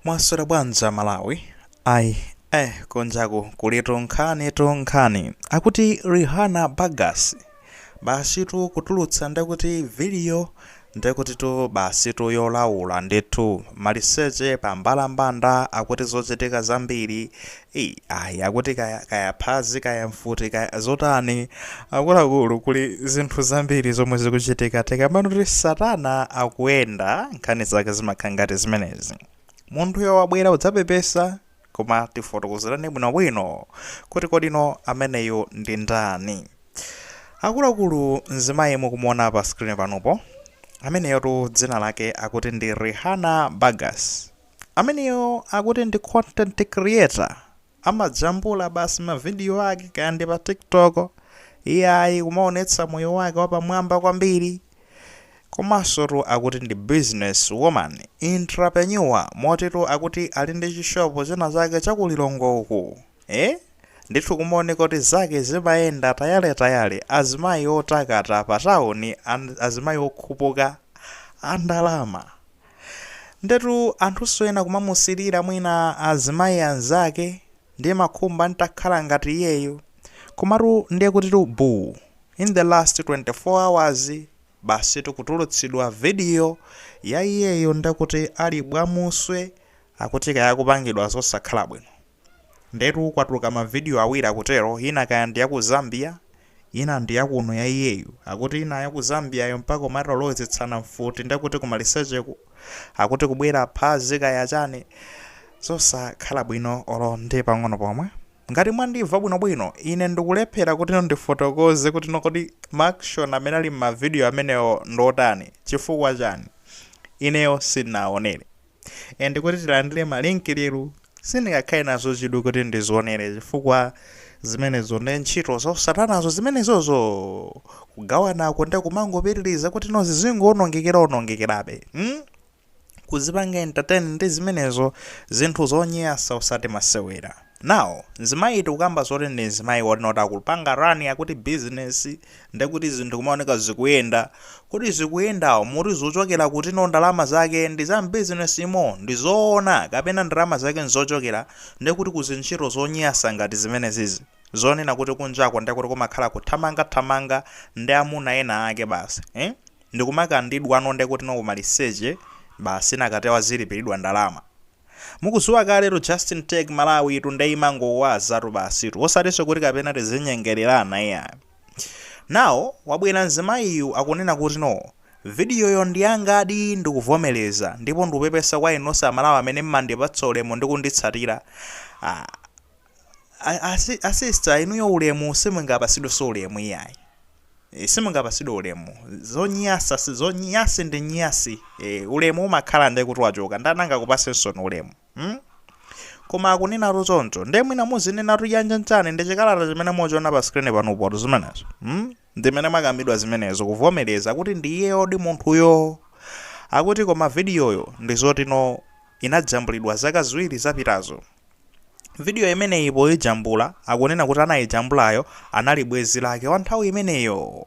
Mwaswera bwanji a Malawi? Ayi, Eh kunjaku kuli tunkhanitunkhani. Akuti Rihanna Burgess. Basitu kutulutsa ndekuti video ndekutitu basitu yolaula ndithu. Maliseche pa mbalambanda akuti zochitika zambiri Ayi akuti kaya phazi kaya mfuti kaya zotani akuluakulu kuli zinthu zambiri zomwe zikuchitika tikamanena kuti satana akuyenda nkhani zake zimakhala ngati zimenezi munthuyo wabwera kudzapepesa koma tifotokozereni bwinobwino kuti kodi no ameneyo ndi ndani akuluakulu mzimayi mukumuona pa screen panopo ameneyotu dzina lake akuti ndi Rihanna Burgess Ameneyo akuti ndi content creator, amajambula basi ma video ake kaya ndi pa TikTok, iyayi kumaonetsa moyo wake wapamwamba kwambiri. Komansotu akuti ndi business woman, entrepreneur motitu akuti ali ndi chishopu china chake cha ku Lilongwe uku. Eh? Ndithu kumaoneka kuti zake zimayenda tayaletayale, azimayi otakata pa town azimayi okhupuka a ndalama. Ndetu anthunso ena kumamusirira mwina azimayi anzake ndimakhumba ntakhala ngati iyeyo komatu ndekutitu buu in the last 24 hours basitu kutulutsidwa video ya iyeyo ndekuti ali bwamuswe akuti kaya akupangidwa zosakhala bwino. Ndetu kwatuluka ma video awiri akutero, ina kaya ndi ya ku Zambia, ina ndi ya kuno ya iyeyu. Akuti ina ya ku Zambia yo mpaka kumatolowetsana mfuti nde kuti ku malisecheku, akuti kubwera phazi kaya chani. Zosakhala bwino olo ndi pang'ono pomwe. Ngati mwandimva bwinobwino, ine ndikulephera kuti no ndifotokoze kuti no kodi ma action amene ali mma video amenewo ndi otani, chifukwa chani, ineyo sinaonere. ande kuti tilandire ma link lero sindingakhale nazo chidwi kuti ndizionere chifukwa zimenezo ndi ntchito za usatanazo zimenezozo kugawanako ndi kumangopitiriza kuti no zizingowonongekera onongekerabe hmm? kuzipanga entertain ndi zimenezo zinthu zonyasa usati masewera Now mzimayi tikukamba zoti ndi mzimayi woti noti akupanga run akuti business ndekuti zinthu kumaoneka zikuyenda kodi zikuyenda muti zochokera kuti no ndalama zake ndi za business mo ndi zoona kapena ndalama zake nzochokera ndekuti ku zintchito zonyasa ngati zimenezizi zonena kuti kunjako ndekuti kumakhala kuthamanga thamanga ndi amuna ena ake basi eh ndikumakandidwa no ndekuti no kumaliseche basi nakatewa zilipiridwa ndalama Mukudziwa kaletu Justin Tech Malawi tu nde timangowazatu basitu osatinso kuti kapena tizinyengelerana iyayi. Now wabwera mzimayiyu akunena kuti no Video yo ndiyangadi ndikuvomereza ndipo ndikupepesa kwa inu nonse amalawi amene mmandipatsa ulemu ndi kunditsatira ah. a sister inuyo ulemu simungapasidwenso ulemu iyayi e, simungapasidwe ulemu zonyasa zonyasi ndi nyasi e, ulemu umakhala nde kuti wachoka ndananga kupasenso ni ulemu hmm? koma akunena choncho nde mwina muzinena kuti yanga nchani ndi chikalata chimene muchiona pa screen panopo zimenezo hmm? ndimene zakambidwa zimenezo kuvomereza kuti ndi iyeyodi munthuyo akuti koma vidiyoyo ndi zotino inajambulidwa zaka ziwiri zapitazo Vidiyo imeneyi poijambula akunena kuti anayijambulayo anali bwenzi lake wa nthawi imeneyo.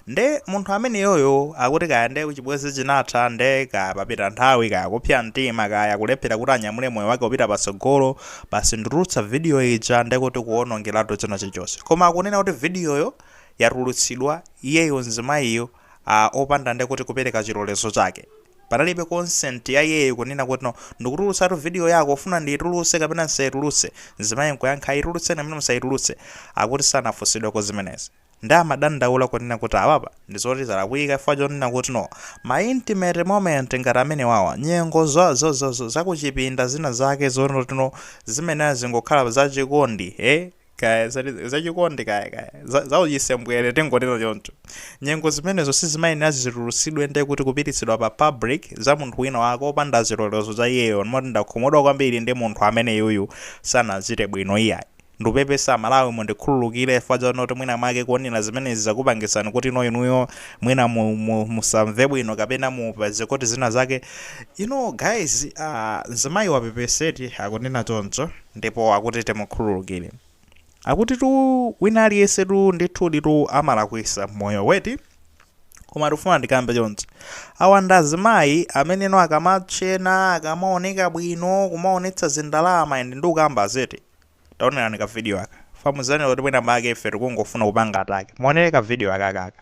Nde munthu ameneyoyo akuti kaya nde chibwenzi chinatha nde kaya papita nthawi kaya kupsa mtima kaya kulephera kuti anyamule moyo wake upite patsogolo basi nditulutse vidiyo ija nde kuti kuwonongeratu china chilichonse. Koma akunena kuti vidiyoyo yatulutsidwa iyeyo mzimayiyo a, opanda nde kuti kupereka chilolezo chake. Panalibe consent ya iyeyo kunena kuti no, ndikutulutsatu video yako, ufuna ndiitulutse kapena ndisaitulutse? Mzimayi nkuyankha ayi itulutseni kapena musaitulutse. Akuti sanafunsidweko zimenezi. Nde amadandaula kunena kuti apapa ndi zoti zalakwika chifukwa chonena kuti no, ma intimate moment ngati amenewawa, nyengo za, za, za, za, za kuchipinda zina zake zoti no, zimenezi zingokhala za chikondi, eh, kaya zati- zachikondi kaya kaya za- zauchisembwere tingonena choncho nyengo zimenezo sizimayenera zitulutsidwe nde kuti kupititsidwa pa public za munthu wina wake opanda chilolezo cha iyeyo moti ndakhumudwa kwambiri ndi munthu ameneyuyu sanachite bwino iyayi ndupepesa malawi mundikhululukire chifukwa chonoti mwina mwake kuonera zimenezi zakupangitsani kuti no inuyo mwina mu- mu- musamve bwino kapena mupeze kuti zina zake you know guys uh, mzimayi wapepesa eti akunena choncho ndipo akuti timukhululukire. Akutitu wina aliyensetu ndithuditu amalakwisa mmoyo eti? Koma ndikufuna ndikambe chonchi. Awa ndi azimayi amene no akamatchena, akamaoneka bwino, kumaonetsa zindalama and ndikukamba izi eti. Taonerani ka video aka. Pamuzanena kuti mwina mwake ife tikungofuna kupanga attack. Muonere ka video akakaka.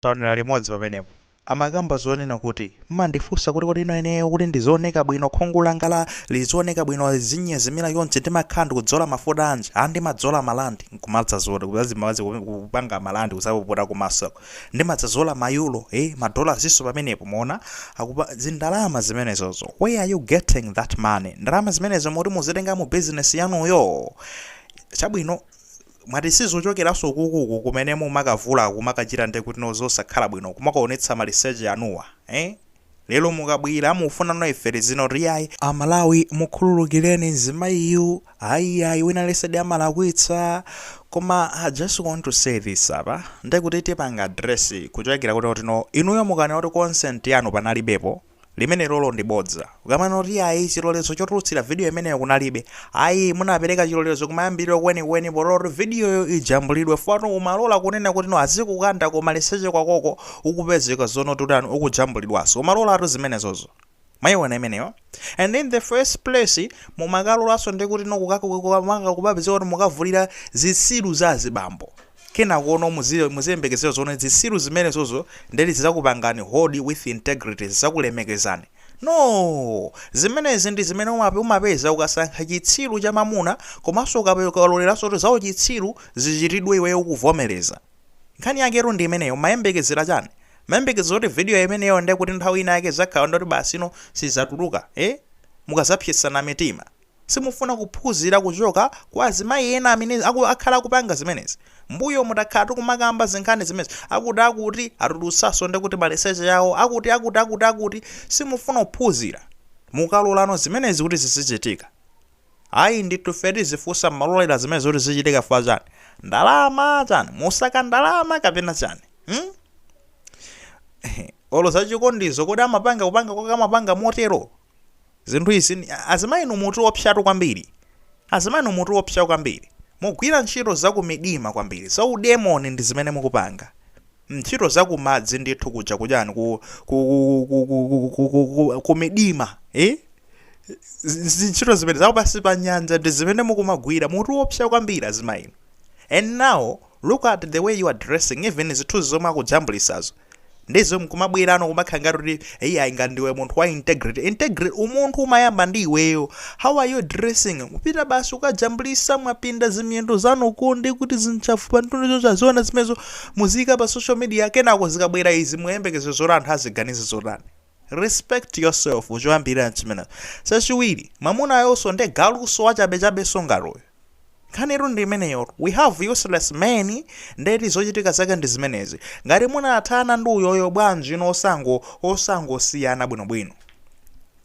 Taonera limodzi pamenepo. Amakamba zonena kuti, Mmandifunsa kuti kodi no ineyo kuti ndizioneka bwino, khungu langali lizioneka bwino, lizinyezimira chonchi, ndimakhala ndikudzola mafuta anji? Ah, ndimadzola ma landi, nkumadzazola, kudzazimbazi ku- ku- kupanga ma landi kudzapukuta kumasoku. Ndimadzadzola ma yuro, eh, ma dola izinso pamenepo, mwaona? Akupa, zindalama zimenezozo. Where are you getting that money? Ndalama zimenezo moti mukuzitenga mu bizinesi yanuyo? Chabwino, Mwati sizochokeranso ukuku kumene mumakavula kumakachita nde kuti no zosakhala bwino kumakaonetsa maliseche anuwa ee lero mukabwera mufuna no ife tizinena kuti iyayi amalawi mukhululukireni mzimayiyu ayi iyayi wina aliyensedi amalakwitsa koma i just want to say this apa ndekuti tipanga address kuchokera kuti no inuyo mukanena kuti consent yanu panalibepo Limenelolo ndi bodza. Ukamanena kuti iyayi chilolezo chotulutsira vidiyo imeneyo kunalibe, ayi munapereka chilolezo kumayambiriro kwenikweni polola kuti vidiyoyo ijambulidwe chifukwa no umalola kunena kuti no azikukanda kumaliseche kwakoko ukupezeka zonena kuti utani, ukujambulidwanso. Umalolatu zimenezozo. Mwayiona imeneyo? And in the first place mumakalolanso ndi kuti no kukaka-kukaka-kumakapezeka kuti mukavulira zitsiru za azibambo. kenakono muzile muziyembekezera zonena zisiru zimenezozo nde eti zizakupangani hold with integrity zizakulemekezani noo! zimenezi ndizimene umape umapeza ukasankha chitsiru cha mamuna komanso ukape ukaloleranso kuti zauchitsiru zichitidwe iweyo ukuvomereza nkhani yaketu ndi imeneyo umayembekezera chani? umayembekezera kuti video imeneyo ndekuti nthawi ina yake izakhala ndi yoti basi ino sizatuluka ee? mukazapsetsana mitima. Simufuna kuphuzira kuchoka kwa azimayi ena amene aku akhala akupanga zimenezi. Mbuyomu takhala tikumakamba zinkhani zimenezi. Akuti akuti atulutsaso ndekuti maliseche awo akuti akuti akuti akuti. Simufuna kuphuzira. Mukaloranso zimenezi kuti zizichitika. Ayi ndithu ife tizifusa mmalorera zimenezi kuti zizichitika chifukwa chani? Ndalama chani? Mukusaka ndalama kapena chani? Hmm? Olo zachikondizo kodi amapanga kupanga kwake amapanga motero? zinthu izi azimayi inu mutiopsatu kwambiri azimayi inu mutiopsa kwambiri mugwira ntchito za kumidima kwambiri za udemoni ndi zimene mukupanga ntchito za kumadzi ndithu kuja kujani ku ku ku ku ku ku ku ku kumidima eh Z- zi- ntchito zimene za kupansi pa nyanja ndi zimene mukumagwira mutiopsa kwambiri azimayi inu and now Look at the way you are dressing even zithuzi zomwe akujambulisazo ndizo nkumabwerano kumakhala ngati kuti iyayi ngati ndiwe munthu wa integrity integrity umunthu umayamba ndi iweyo how are you dressing kupita basi kukajambulisa mwapinda zimiyendo zanu ku nde kuti zinchafu pamtunda ponse aziona zimenezo muziyika pa social media kenako zikabwera izi muyembekezera zoti anthu aziganize zotani respect yourself choyambirira chimenecho chachiwiri mwamunayonso nde galuso wachabechabenso ngaloyo Nkhanitu ndi imeneyotu. We have useless men nde eti zochitika zake ndi zimenezi. Ngati munathana ndi uyoyo bwanji inu osango osangosiyana bwinobwino.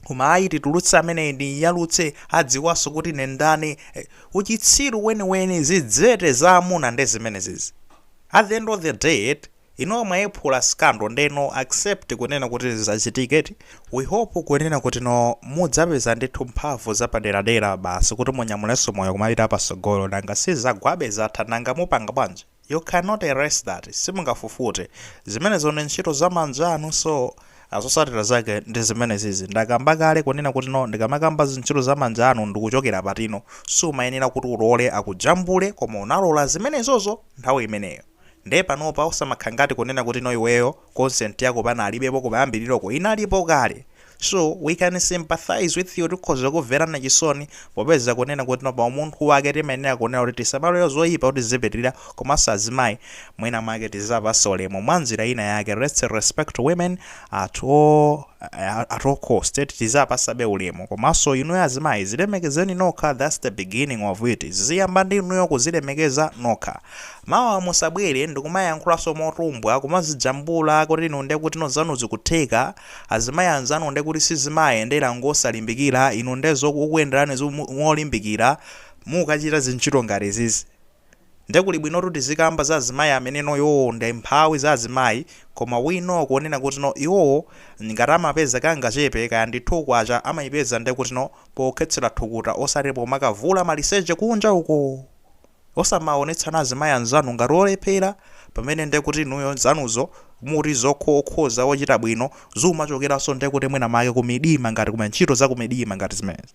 Koma ayi titulutse ameneyi ndimuyalutse adziwanso kuti ine ndani. Eh, Uchitsiru weniweni zidzete za amuna nde zimenezizi. At the end of the day eti Inuo mwayiphula scandal nde no accept kunena kuti zachitika eti, we hope kunena kuti no mudzapeza ndithu mphamvu zapaderadera basi kuti munyamulenso moyo kumapita pasogolo nanga si zagwabe zatha nanga mupanga bwanji you cannot erase that simungafufute zimenezo ndi ntchito za manja anu so zosatira zake ndi zimenezizi ndakamba kale kunena kuti no ndikamakamba zintchito za manja anu ndikuchokera patino sumayenera kuti ulole akujambule koma unalola zimenezozo nthawi imeneyo. Nde panopa osamakhangati kunena kuti no iweyo consent yako panalibepo kumayambiriroko inalipo kale so we can sympathize with you tikhoza kukumverani chisoni popeza kunena kuti no paumunthu wake timayenera kunena kuti tisamalole zoipa kuti zipitirira komanso azimayi mwina mwake tiziwapasa ulemu mwanjira ina yake let's respect women at all at all cost tiziwapasabe ulemu komanso inuyo azimayi zilemekezeni nokha that's the beginning of it ziziyamba ndi inuyo kuzilemekeza nokha Mawa musabwere ndikumayankhulanso motumbwa, kumazijambula kuti inu ndekutino zanu zikutheka, azimayi anzanu ndekuti sizimawayendera ngosalimbikira, inu nde zokukuyenderani ngolimbikira, mukachita zintchito ngati izizi nde kuli bwino kuti zikamba za azimayi ameneno iwowo nde mphawi za azimayi koma we know kunena kutino iwowo ngati amapeza kangachepe kaya ndi K2 amaipeza ndekutino pokhetsera thukuta osati pomakavula maliseche kunja uko! Osamaonetsana azimayi anzanu ngati olephera pamene ndekuti inuyo zanuzo muti zokho okhoza ochita bwino zumachokeranso ndekuti mwina make kumidima ngati kuma ntchito zakumidima ngati zimenezi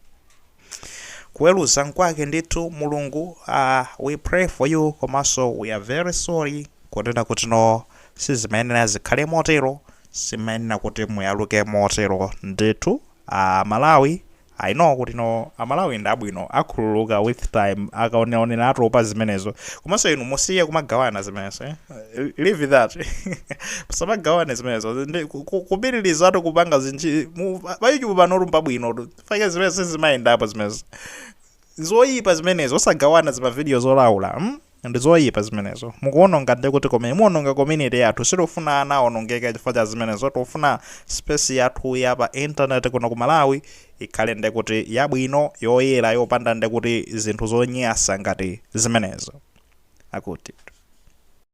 kuweruza nkwake ndithu Mulungu uh, we pray for you komanso we are very sorry kunena kuti no sizimayenera zikhale motero simayenera kuti muyaluke motero ndithu uh, Malawi I know kuti no amalawi ndi abwino akhululuka with time akaoneraonera atopa zimenezo komanso inu musiye kumagawana zimenezo eh? leave that musamagawane zimenezo Ndi- ku- ku- kupitiriza ati kupanga zinji mu- pa youtube panotu mbabwinotu fake zimenezo sizimayendapo zimenezo Nzoipa zimenezo osagawana zimavideo zolaula mm? ndizoipa zimenezo mukuononga ndi kuti komwe muononga community yathu sitifuna ana aonongeke chifukwa cha zimenezo tifuna space yathu ya pa internet kuno ku malawi ikhale ndi kuti yabwino yoyera yopanda ndi kuti zinthu zonyasa ngati zimenezo akuti